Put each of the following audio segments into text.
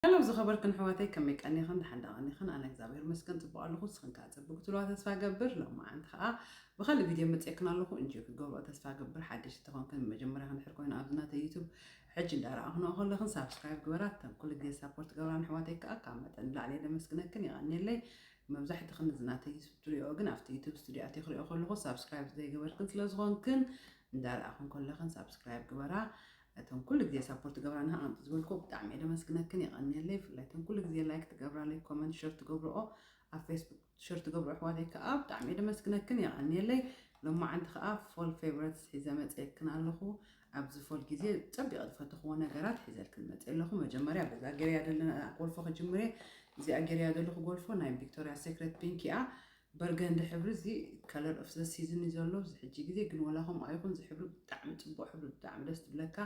ሀሎ ዝኸበርክን ኣሕዋተይ ከመይ ቀኒኽን ደሓን ዶ ቀኒኽን ኣነ እግዚኣብሔር ይመስገን ጽቡቕ ኣለኹ ንስኽን ከኣ ጽብቅ ክትብልዋ ተስፋ እገብር ሎማዓንቲ ከኣ ብኻልእ ቪድዮ መጽኤክን ኣለኹ እንጆይ ክትገብርኦ ተስፋ እገብር ሓደሽቲ ተኾንክን ንመጀመርያኽን ድሕር ኮይኑ ኣብዚ ናተይ ዩቱብ ሕጂ እንዳረኣኹንኦ ከለኽን ሳብስክራይብ ግበራ እተን ኩሉ ግዜ ሳፖርት ገብራን ኣሕዋተይ ከኣ ካብ መጠን ንላዕሊ እየ ደመስግነክን የቐንየለይ መብዛሕትኽን እዚ ናተይ ዩቱብ ትሪኦ ግን ኣብቲ ዩቱብ ስቱድዮ ኣትየ ክሪኦ ከለኹ ሳብስክራይብ ዘይገበርክን ስለዝኾንክን እንዳረኣኹን ከለኽን ሳብስክራይብ ግበራ እተን ኩሉ ግዜ ሳፖርት ትገብራና ኣንቲ ዝበልኩ ብጣዕሚ እየ ደመስግነክን የቀንየለይ ብፍላይ እተን ኩሉ ግዜ ላይክ ትገብራለይ ኮመንት ሸር ትገብርኦ ኣብ ፌስቡክ ሸር ትገብሩ ኣሕዋተይ ከዓ ብጣዕሚ እየ ደመስግነክን የቀንየለይ ሎማዓንቲ ከዓ ፎል ፌቨረትስ ሒዘ መፅየክን ኣለኹ ኣብዚ ፎል ግዜ ፀቢቀ ዝፈተኽዎ ነገራት ሒዘልክን መፅየ ኣለኹ መጀመርያ በዛ ገርያ ዘለና ጎልፎ ክጅምር እየ እዚኣ ገርያ ዘለኹ ጎልፎ ናይ ቪክቶርያ ሴክሬት ፒንክ እያ በርገንዲ ሕብሪ እዚ ከለር ኦፍ ዘ ሲዝን እዩ ዘሎ ኣብዚ ሕጂ ግዜ ግን ወላ ከምኡ ኣይኹን እዚ ሕብሪ ብጣዕሚ ጽቡቅ ሕብሪ ብጣዕሚ ደስ ትብለካ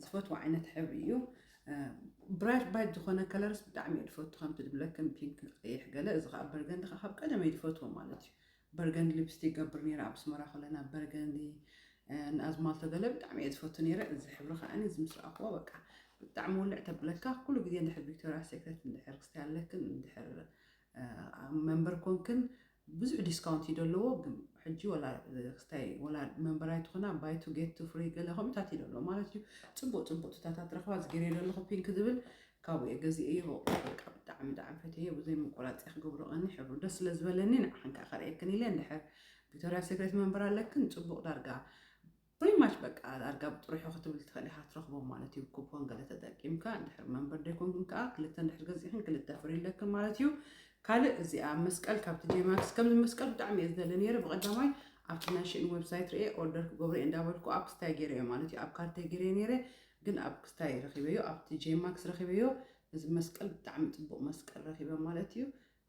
ዝፈትዎ ዓይነት ሕብሪ እዩ ብራይት ባይት ዝኾነ ከለርስ ብጣዕሚ እየ ዝፈቱ ከምቲ ድብለክን ፒንክ ቀይሕ ገለ እዚ ከዓ በርገንዲ ከዓ ካብ ቀደመ እዩ ዝፈትዎ ማለት እዩ በርገንዲ ሊፕስቲክ ገብር ነይረ ኣብ ስመራ ከለና በርገንዲ ንኣዝማልቶ ገለ ብጣዕሚ እየ ዝፈቱ ነይረ እዚ ሕብሪ ከዓኒ እዚ ምስ ረኣኽዎ በቃ ብጣዕሚ ውልዕ ተብለካ ኩሉ ግዜ እንድሕር ቪክቶሪያ ሴክሬት እንድሕር ክስታይ ኣለክን እንድሕር መንበር ኮንክን ብዙሕ ዲስካውንት እዩ ደለዎ ግን ሕጂ ወላ ክስታይ ወላ መንበር ኣይትኾና ባይ ቱ ጌት ቱ ፍሪ ገለ ከምኡታት እዩ ደለዎ ማለት እዩ ፅቡቅ ፅቡቅ ትታታት ረኽባ ዝገርየ ደለኹ ፒንክ ዝብል ካብኡ እየ ገዚእዮ በቃ ብጣዕሚ ብጣዕሚ ፈትየ ብዘይ ምቆራፅ እየ ክገብሮ ቀኒ ሕብሩ ደስ ስለ ዝበለኒ ንዓኽን ከዓ ከርእየክን ኢለ እንድሕር ቪክቶሪያ ሴክሬት መንበር ኣለክን ፅቡቅ ዳርጋ ፕሪ ማች በቃ ኣርጋብ ጥሪሑ ክትብል ትኽእል ኢኻ ትረኽቦም ማለት እዩ ኩፖን ገለ ተጠቂምካ እንድሕር መንበር ደይኮንኩም ከዓ ክልተ እንድሕር ገዚእኽን ክልተ ፍሪ ኣለክን ማለት እዩ ካልእ እዚኣ መስቀል ካብቲ ጄማክስ ከምዚ መስቀል ብጣዕሚ እየ ዝደሊ ነይረ ብቐዳማይ ኣብቲ ናይ ሽእን ዌብሳይት ርኤ ኦርደር ክገብሮ እየ እንዳበልኩ ኣብ ክስታይ ገይረ እየ ማለት እዩ ኣብ ካርተይ ገይረ ነይረ ግን ኣብ ክስታይ ረኺበዮ ኣብቲ ጄማክስ ረኺበዮ እዚ መስቀል ብጣዕሚ ፅቡቕ መስቀል ረኺበ ማለት እዩ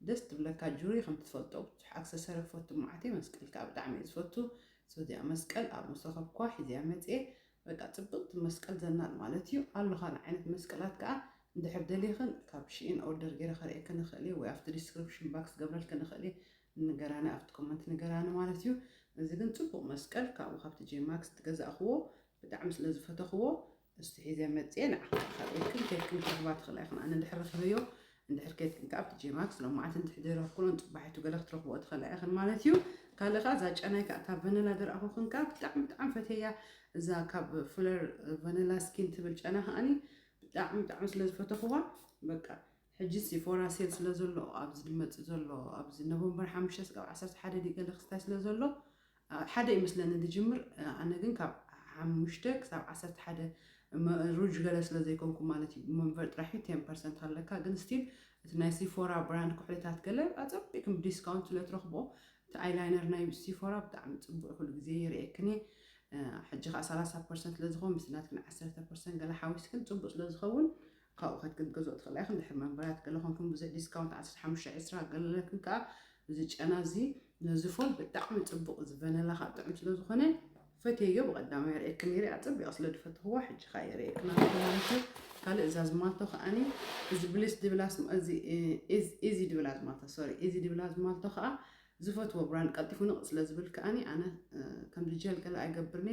ደስ ትብለካ ጁሪ ከምቲ ትፈልጦ ብዙሕ ኣክሰሰሪ ክፈቱ መዓትየ መስቀል ከኣ ብጣዕሚ እየ ዝፈቱ ሶ እዚኣ መስቀል ኣብ መሰከብኳ ሒዘያ መጽየ በቃ ጽብቅቲ መስቀል ዘናጥ ማለት እዩ ኣሎ ካልእ ዓይነት መስቀላት ከኣ እንድሕር ደሊክን ካብ ሽኢን ኦርደር ገይረ ከርእየክን እክእል እየ ወይ ኣብቲ ዲስክሪፕሽን ባክስ ክገብረልክን እክእል እየ ንገራኒ ኣብቲ ኮመንት ንገራኒ ማለት እዩ እዚ ግን ጽቡቅ መስቀል ካብኡ ካብቲ ጄማክስ ትገዛእክዎ ብጣዕሚ ስለ ዝፈተክዎ እስቲ ሒዘ መፅኤ ንዓኹም ኣኻቢርክን ከይድክን ክትረኽባ ትኽእላ ኢኹን ኣነ እንድሕር ረኺበዮ እንድሕር ከይድክን ከዓ ኣብቲ ጄማክስ ሎም መዓልቲ እንድሕር ዘይረኽኩሎን ፅባሒቱ ገለ ክትረኽብኦ ትኽእላ ኢኽን ማለት እዩ ካልእ ከዓ እዛ ጨናይ ከዓ እታ ቨነላ ዝረኣኹኽን ከዓ ብጣዕሚ ብጣዕሚ ፈትየያ እዛ ካብ ፍለር ቨነላ ስኪን ትብል ጨና ከዓኒ ብጣዕሚ ብጣዕሚ ስለ ዝፈተኽዋ በቃ ሕጂ ሲፎራ ሴል ስለ ዘሎ ኣብዚ ዝመፅእ ዘሎ ኣብዚ ኖቨምበር ሓሙሽተ ስጋብ ዓሰርተ ሓደ ድዩ ገለ ክስታይ ስለ ዘሎ ኣብ ሓደ እዩ መስለኒ ድጅምር ኣነ ግን ካብ ሓሙሽተ ክሳብ ዓሰርተ ሓደ ሩጅ ገለ ስለ ዘይኮንኩ ማለት እዩ መንቨር ጥራሕ እዩ ቴን ፐርሰንት ኣለካ ግን ስቲል እቲ ናይ ሲፎራ ብራንድ ኩሕልታት ገለ ኣጸቢቅም ብዲስካውንት ስለ ትረኽቦ እቲ ኣይላይነር ናይ ሲፎራ ብጣዕሚ ጽቡቅ ኩሉ ግዜ ይርእየክን እየ ሕጂ ከዓ ሰላሳ ፐርሰንት ስለ ዝኸውን ምስ ናትክን ዓሰርተ ፐርሰንት ገለ ሓዊስክን ጽቡቅ ስለ ዝኸውን ካብኡ ከትገብ ገዝኦ ትኽእላ ኢኽን ድሕሪ መንበራት ገለ ኮንኩም ብዘይ ዲስካውንት ዓሰርተ ሓሙሽተ ዕስራ ገለ ለክን ከኣ እዚ ጨና እዚ ነዚ ፎን ብጣዕሚ ጽቡቕ እዚ ቨነላ ከኣ ጥዑም ስለ ዝኾነ ፈትየዮ ብቐዳማይ የርእየክን ነይረ ኣጸቢቐ ስለ ድፈትኽዋ ሕጂ ከኣ የርእየክን ኣለኹ ማለት እዩ ካልእ እዛ ዝማልቶ ከኣኒ እዚ ብሊስ ድብላ እዚ ኢዚ ድብላ ዝማልቶ ሶሪ ኢዚ ድብላ ዝማልቶ ከኣ ዝፈትዎ ብራንድ ቀልጢፉ ንቕ ስለ ዝብል ከኣኒ ኣነ ከምዚ ጀል ገለ ኣይገብርኒ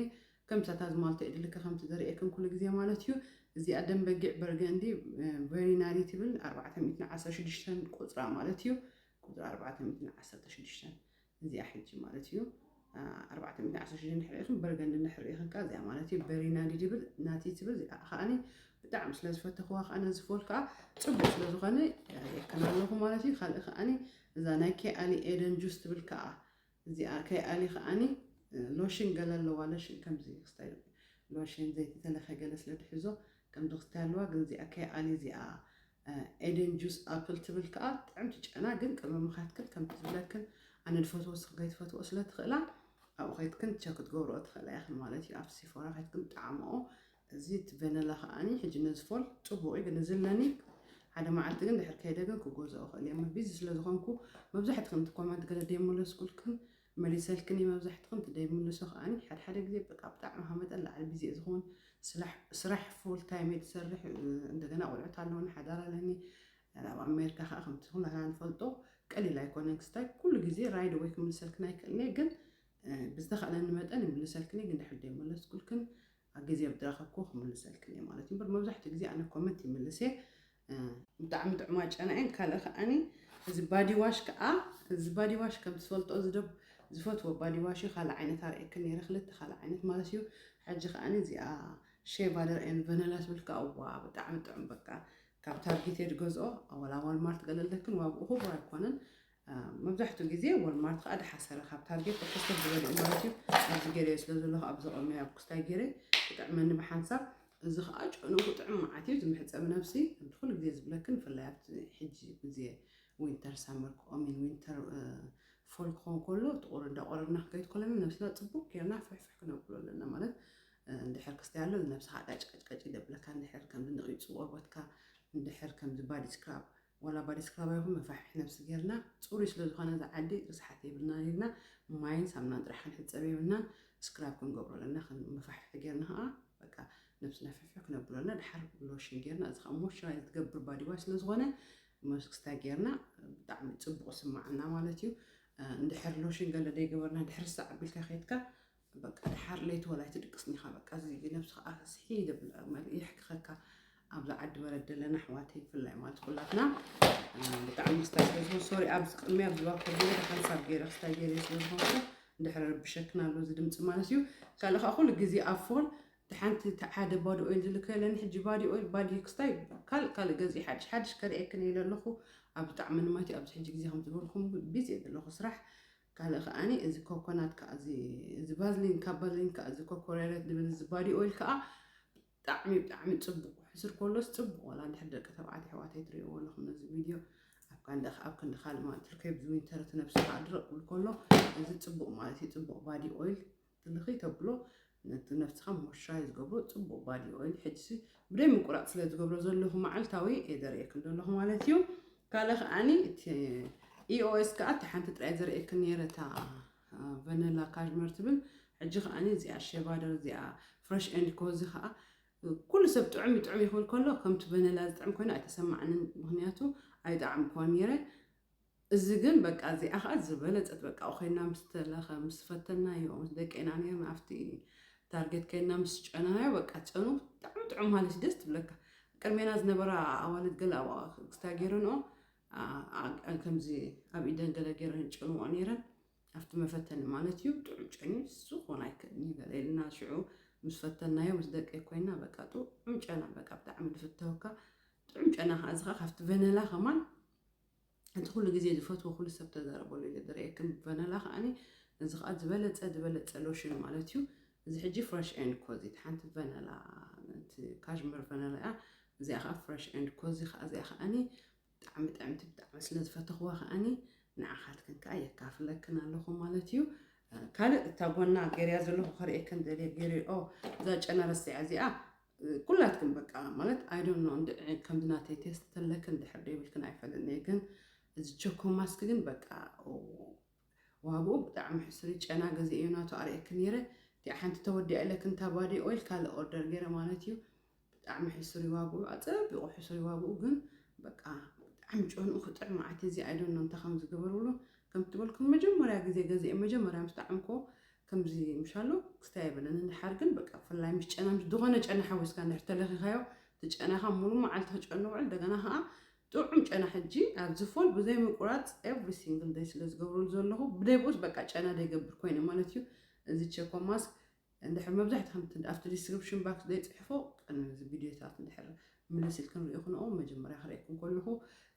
ከምቲ ኣታ ዝማልቶ የድልከ ከምቲ ዘርእየክን ኩሉ ግዜ ማለት እዩ እዚኣ ደም በጊዕ በርገንዲ ቨሪ ናሪ ትብል ኣርባዕተ ሚእትን ዓሰርተ ሽዱሽተን ቁፅራ ማለት እዩ ቁፅራ ኣርባዕተ ሚእትን ዓሰርተ ሽዱሽተን እዚኣ ሕጂ ማለት እዩ ኣርባዕተ ሚእትን ዓሰርተ ሽዱሽተን ድሕሪ ኢኽን በርገንዲ ድሕሪ ኢኽን ከዓ እዚኣ ማለት እዩ ቨሪ ናዲ ድብል ናቲ ትብል እዚኣ ከዓኒ ብጣዕሚ ስለ ዝፈተኽዋ ከዓ ነዚ ፎል ከዓ ፅቡቅ ስለ ዝኾነ የከና ኣለኹ ማለት እዩ ካልእ ከዓኒ እዛ ናይ ኬኣሊ ኤደን ጁስ ትብል ከዓ እዚኣ ከይ ኣሊ ከኣኒ ሎሽን ገለ ኣለዋ ለሽን ከምዚ ክስታይ ሎሽን ዘይቲ ተለፈ ገለ ስለ ትሕዞ ከምዚ ክስታይ ኣለዋ ግን እዚኣ ከይ ኣሊ እዚኣ ኤደን ጁስ ኣፕል ትብል ከኣ ጥዕምቲ ጨና ግን ቅመምኻትክን ከምቲ ዝብለክን ኣነ ዝፈትዎ ንስኽን ከይትፈትዎ ስለ ትኽእላ ኣብኡ ከይትክን ቸክ ክትገብርኦ ትኽእላ ኢኽን ማለት እዩ ኣብ ሲፎራ ከይትክን ጣዕምኦ እዚ እቲ ቨነላ ከኣ ሕጂ ነዚ ፎል ጽቡቕ እዩ ግን እዚ ኣለኒ ሓደ መዓልቲ ግን ድሕር ከይደ ግን ክገዝኦ እኽእል እየ ም ቢዚ ስለ ዝኾንኩ መብዛሕትክን እቲ ኮመንት ገለ ደይመለስኩልክን መሊሰልክን እዩ መብዛሕትክን እቲ ደይምልሶ ከኣ ሓድሓደ ግዜ በቃ ብጣዕሚ ካብ መጠን ላዕሊ ቢዚ እየ ዝኸውን ስራሕ ፉል ታይም እየ ዝሰርሕ እንደገና ቆልዑት ኣለውኒ ሓዳር ኣለኒ ኣብ ኣሜሪካ ከዓ ከምቲ ኩላትና ንፈልጦ ቀሊል ኣይኮነን ክስታይ ኩሉ ግዜ ራይድ ወይ ክምልሰልክን ኣይክእልኒ ግን ብዝተኸእለኒ መጠን ይምልሰልክን ግን ድሕር ደይመለስኩልክን ኣብ ግዜ ብዝረኸብክዎ ክምልሰልክን እየ ማለት እዩ እምበር መብዛሕትኡ ግዜ ኣነ ኮመንት ይምልስ እየ ብጣዕሚ ጥዑማ ጨና እየን ካልእ ከዓኒ እዚ ባዲዋሽ ከዓ እዚ ባዲዋሽ ከም ትፈልጦ ዝደብ ዝፈትዎ ባዲዋሽ እዩ ካልእ ዓይነት ኣርእየክን ነይረ ክልተ ካልእ ዓይነት ማለት እዩ ሕጂ ከዓኒ እዚኣ ሼቫደር ኤን ቨነላ ትብል ከዓ ዋ ብጣዕሚ ጥዑም በቃ ካብ ታርጌት እየ ዝገዝኦ ኣዋላ ዋልማርት ገለለክን ዋግኡ ክቡር ኣይኮነን መብዛሕትኡ ግዜ ወልማርት ከዓ ድሓሰረ ካብ ታርጌት ብሕሰብ ዝበልኡ ማለት እዩ ኣብዚ ገይረዮ ስለ ዘለኹ ኣብ ዘቐመዮ ኣብ ኩስታይ ገይረ ክጥዕመኒ ብሓንሳብ እዚ ከዓ ጨንኡ ክጥዕም መዓት እዩ ዝምሕፀብ ነብሲ ከምቲ ኩሉ ግዜ ዝብለክን ብፍላይ ኣብቲ ሕጂ ግዜ ዊንተር ሳመር ክኦሚን ዊንተር ፎል ክኾን ከሎ ጥቑር እንዳቆረብና ክከይድ ከለና ነብስና ፅቡቅ ጌርና ፍሕፍሕ ክነብሎ ኣለና ማለት እንድሕር ክስታይ ኣሎ ነብስኻ ቀጭቀጭቀጭ ይደብለካ እንድሕር ከምዚ ንቂፅ ቆርበትካ እንድሕር ከምዚ ባዲ ስክራብ ዋላ ባዲስ ክላባ ይኹን መፋሕፍሒ ነብሲ ጌርና ጽሩይ ስለ ዝኾነ እዚ ዓዲ ርስሓት የብልናን ኢልና ማይን ሳምናን ጥራሕ ክንሕጸብ የብልናን ስክራብ ክንገብሮ ኣለና ከም መፋሕፍሒ ጌርና ኸኣ በቃ ነብስና ፍሕፍሕ ክነብሎ ኣለና ድሓር ሎሽን ጌርና እዚ ኸኣ ሞይስቸራይዝ ዝገብር ባዲ ዋሽ ስለ ዝኾነ መስክስታ ጌርና ብጣዕሚ ጽቡቕ ስማዓና ማለት እዩ እንድሕር ሎሽን ገለ ደይገበርና ድሕር ሳዕ ኣቢልካ ኬድካ በቃ ደሓር ለይቲ ዋላ ኣይትድቅስን ኢኻ በቃ እዚ ነብስኻ ኣስሒ ደብላ ማለት የሕክኸካ ኣብዚ ዓዲ በረድ ዘለና ኣሕዋተይ ብፍላይ ማለት ኩላትና ብጣዕሚ ክስታይ ስለዝኾን ሶሪ ኣብዚ ቅድሚ ኣብዚ ባኮ ገለ ሓንሳብ ገይረ ክስታይ ገይረ ስለዝኾንኩ እንድሕሪ ረብሸክና ኣሎ እዚ ድምፂ ማለት እዩ ካልእ ከዓ ኩሉ ግዜ ኣብ ፎን እቲ ሓንቲ እቲ ሓደ ባዲ ኦይል ዝልከ የለኒ ሕጂ ባዲ ኦይል ባዲ ክስታይ ካልእ ካልእ ገዚ ሓድሽ ሓድሽ ከርእየክን ኢለ ኣለኹ ኣብ ብጣዕሚ ንማት እዩ ኣብዚ ሕጂ ግዜ ከም ዝበልኩም ቢዚ እየ ዘለኹ ስራሕ ካልእ ከኣ እዚ ኮኮናት ከኣ እዚ እዚ ቫዝሊን ካብ ቫዝሊን ከኣ እዚ ኮኮሬረት ድብል እዚ ባዲ ኦይል ከኣ ብጣዕሚ ብጣዕሚ ጽቡቕ ሕስር ኮሎስ ጽቡቕ ወላ እንድሕር ደቂ ተባዕትዮ ኣሕዋተይ ትርእይዎ ኣለኹም ነዚ ቪድዮ ኣብ ካንደ ኣብ ክንዲ ካልእ ማለት ትርከይ ብዝዊንተር እቲ ነብስኻ ድርቕ ክብል ከሎ እዚ ጽቡቕ ማለት እዩ ጽቡቕ ባዲ ኦይል ትልኽይ ተብሎ ነቲ ነብስኻ ምርሻይ ዝገብሮ ጽቡቅ ባዲ ኦይል ሕጅሲ ብደይ ምቁራጽ ስለ ዝገብሮ ዘለኹ መዓልታዊ እየ ዘርእየክን ዘለኹ ማለት እዩ ካልእ ከዓኒ እቲ ኢኦኤስ ከዓ እቲ ሓንቲ ጥራይ ዘርእየክን ነይረ እታ ቨነላ ካሽመር ትብል ሕጂ ከዓኒ እዚኣ ሸቫደር እዚኣ ፍረሽ ኤንድ ኮዚ ከዓ ኩሉ ሰብ ጥዑም ጥዑም ይኽብል ከሎ ከምቲ ቨነላ ዝጥዕም ኮይና ኣይተሰማዕንን ምክንያቱ ኣይጣዕም ኮን ነይረ እዚ ግን በቃ እዚኣ ከኣ ዝበለጸት በቃ ኣብኡ ኬንና ምስ ተለከ ምስ ፈተናዮ ምስ ደቄና ኔርና ኣብቲ ታርጌት ኬንና ምስ ጨናናዮ በቃ ጨኑ ብጣዕሚ ጥዑም ሃሊስ ደስ ትብለካ ቅድሜና ዝነበራ ኣዋልድ ገለ ኣብኣ ክስታይ ጌረንኦ ከምዚ ኣብ ኢደን ገለ ጌረን ጨንኦ ኔረን ኣብቲ መፈተኒ ማለት እዩ ጥዑም ጨኒ ንሱ ክኾን ኣይክእልን እዩ ገለ ኢልና ሽዑ ምስ ፈተናዮ ምስ ደቀይ ኮይና በቃ ጥዑም ጨና በቃ ብጣዕሚ ዝፍተወካ ጥዑም ጨና ከዓ እዚ ከዓ ካብቲ ቨነላ ከማን እቲ ኩሉ ግዜ ዝፈትዎ ኩሉ ሰብ ተዛረበሉ ኢለ ዝርእየክም ቨነላ ከኣኒ እዚ ከኣ ዝበለጸ ዝበለጸ ሎሽን ማለት እዩ እዚ ሕጂ ፍረሽ ኤንድ ኮዚ ሓንቲ ቨነላ እቲ ካሽመር ቨነላ እያ እዚኣ ከኣ ፍረሽ ኤንድ ኮዚ ከኣ እዚኣ ከኣኒ ብጣዕሚ ጥዕምቲ ብጣዕሚ ስለ ዝፈተኽዋ ከኣኒ ንዓኻትክን ከዓ የካፍለክን ኣለኹ ማለት እዩ ካልእ እታ ጎና ገርያ ዘለኹ ከርእየክን ደልየ ገይረ ኦ እዛ ጨና ረሲዓ እዚኣ ኩላትክን በቃ ማለት ኣይ ዶንት ኖ እንድዒ ከምዚ ናተይ ቴስት ተለክን ድሕር ደይብልክን ኣይፈልጥን እየ ግን እዚ ቸኮ ማስክ ግን በቃ ዋግኡ ብጣዕሚ ሕሱር ጨና ገዜ እዩ ናቱ ኣርእየክን ነይረ እቲኣ ሓንቲ ተወዲኣ ኢለክን እታ ባዲ ኦይል ካልእ ኦርደር ገይረ ማለት እዩ ብጣዕሚ ሕሱር ዋግኡ ኣፀቢቑ ሕሱር ዋግኡ ግን በቃ ብጣዕሚ ጨንኡ ክጥዕ መዓት እዚ ኣይ ዶንት ኖ እንታይ ከም ዝገበርብሉ ከም ትበልኩም መጀመርያ ግዜ ገዜ መጀመርያ ምስ ጣዕምኮ ከምዚ ምሻሎ ክስታይ የብለን እንድሓር ግን በቃ ፍላይ ምስ ጨና ምስ ዝኾነ ጨና ሓዊስካ እንድሕር ተለኺኻዮ እቲ ጨናኻ ሙሉ መዓልቲ ክጨኑ ውዕል እንደገና ከዓ ጥዑም ጨና ሕጂ ኣብ ዝፎል ብዘይ ምቁራፅ ኤቭሪ ሲንግል ደይ ስለ ዝገብረሉ ዘለኹ ብደይ ብኡስ በቃ ጨና ደይገብር ኮይነ ማለት እዩ እዚ ቸኮ ማስክ እንድሕር መብዛሕትኹም እቲ ኣብቲ ዲስክሪፕሽን ባክስ ዘይፅሕፎ ቅድሚ እዚ ቪድዮታት እንድሕር ምልስ ኢልክን ርኢኹንኦ መጀመርያ ክርእየኩም ከለኹ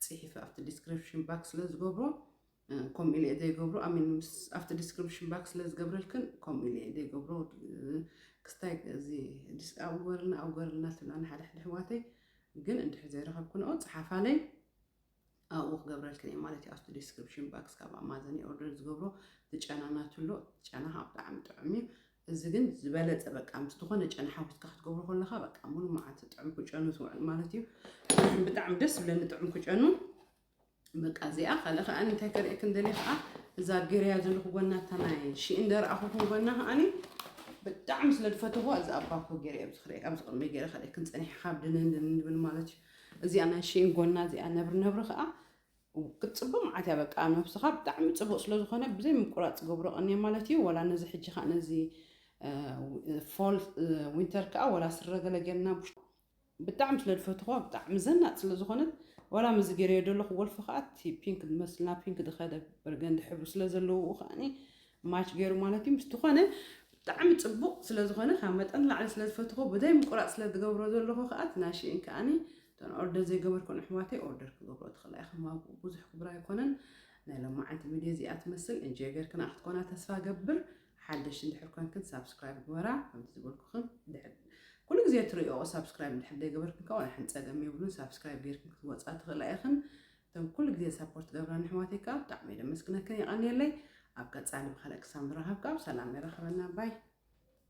ፅሒፈ ኣብቲ ዲስክሪፕሽን ባክስ ስለ ዝገብሮ ከምኡ ኢለ እየ ዘይገብሮ ኣሚን ምስ ኣብቲ ዲስክሪፕሽን ባክ ስለ ዝገብረልክን ከምኡ ኢለ እየ ዘይገብሮ ክስታይ እዚ ዲስ ኣውገርልና ኣውገርልና ትብላኒ ሓደ ሓደ ኣሕዋተይ ግን እንድሕር ዘይረኸብክንኦ ፀሓፋለይ ኣብኡ ክገብረልክን እየ ማለት እዩ ኣብቲ ዲስክሪፕሽን ባክስ ካብ ኣማዘን እየ ኦርደር ዝገብሮ ትጨና ናትሎ ጨና ከዓ ብጣዕሚ ጥዑም እዩ እዚ ግን ዝበለፀ በቃ ምስ ዝኾነ ጨና ሓዊስካ ክትገብሮ ከለካ በቃ ሙሉ መዓልቲ ጥዑም ክጨኑ ዝውዕል ማለት እዩ ብጣዕሚ ደስ ዝብለኒ ጥዑም ክጨኑ በቃ እዚኣ ካልእ ከኣኒ እንታይ ከርእየክን ደልየ ከዓ እዛ ጌርያ ዘለኹ ጎና እታ ናይ ሽኢ እንደረኣኹኩም ጎና ከኣኒ ብጣዕሚ ስለ ዝፈተኹዋ እዚ ኣባኮ ጌረ ኣብዚ ክርኢ ኣብዚ ቅድሚ ጌረ ከርእየክን ፀኒሐ ካብ ድንን ድንን ድብል ማለት እዩ እዚኣ ናይ ሽኢን ጎና እዚኣ ነብሪ ነብሪ ከዓ ክትፅብቕ መዓት እያ በቃ ነብስኻ ብጣዕሚ ፅቡቅ ስለዝኾነ ብዘይ ምቁራፅ ዝገብሮ ቀኒየ ማለት እዩ ወላ ነዚ ሕጂ ከዓ ነዚ ፎል ዊንተር ከዓ ወላ ስረ ገለ ጌርና ብጣዕሚ ስለ ድፈትኽዋ ብጣዕሚ ዘናጥ ስለ ዝኾነት ዋላ ምስዚ ጌረዮ ደለኹ ወልፊ ከኣ እቲ ፒንክ ዝመስል ናብ ፒንክ ዝኸደ በርገንዲ ሕብሪ ስለ ዘለውኡ ከኣኒ ማች ጌሩ ማለት እዩ ምስቲ ኮነ ብጣዕሚ ጽቡቕ ስለ ዝኾነ ካብ መጠን ንላዕሊ ስለ ዝፈትኽዎ ብዘይ ምቁራጽ ስለ ዝገብሮ ዘለኹ ከኣ እቲ ናይ ሽኢን ከኣኒ እተን ኦርደር ዘይገበርኩን ኣሕዋተይ ኦርደር ክገብሮ ትኽእላ ኢኽን ዋግኡ ብዙሕ ክቡር ኣይኮነን ናይ ሎማዓንቲ ቪድዮ እዚኣ ትመስል እንጆይ ጌርክና ክትኮና ተስፋ ገብር ሓደሽቲ እንድሕር ኮንክን ሳብስክራይብ ግበራ ከምቲ ዝበልኩኽን ድሕር ኩሉ ግዜ ትሪኦ ሳብስክራይብ እንድሕር ዘይገበርክን ከዓ ዋላ ሓንቲ ፀገም የብሉን ሳብስክራይብ ጌርክን ክትወፃ ትኽእላ ኢኽን እቶም ኩሉ ግዜ ሳፖርት ገብራን ኣሕዋተይ ከዓ ብጣዕሚ ደመስግነክን የቐንየለይ ኣብ ቀፃሊ ብካልእ ክሳብ ንራኸብ ከዓ ብሰላም የራኽበና ባይ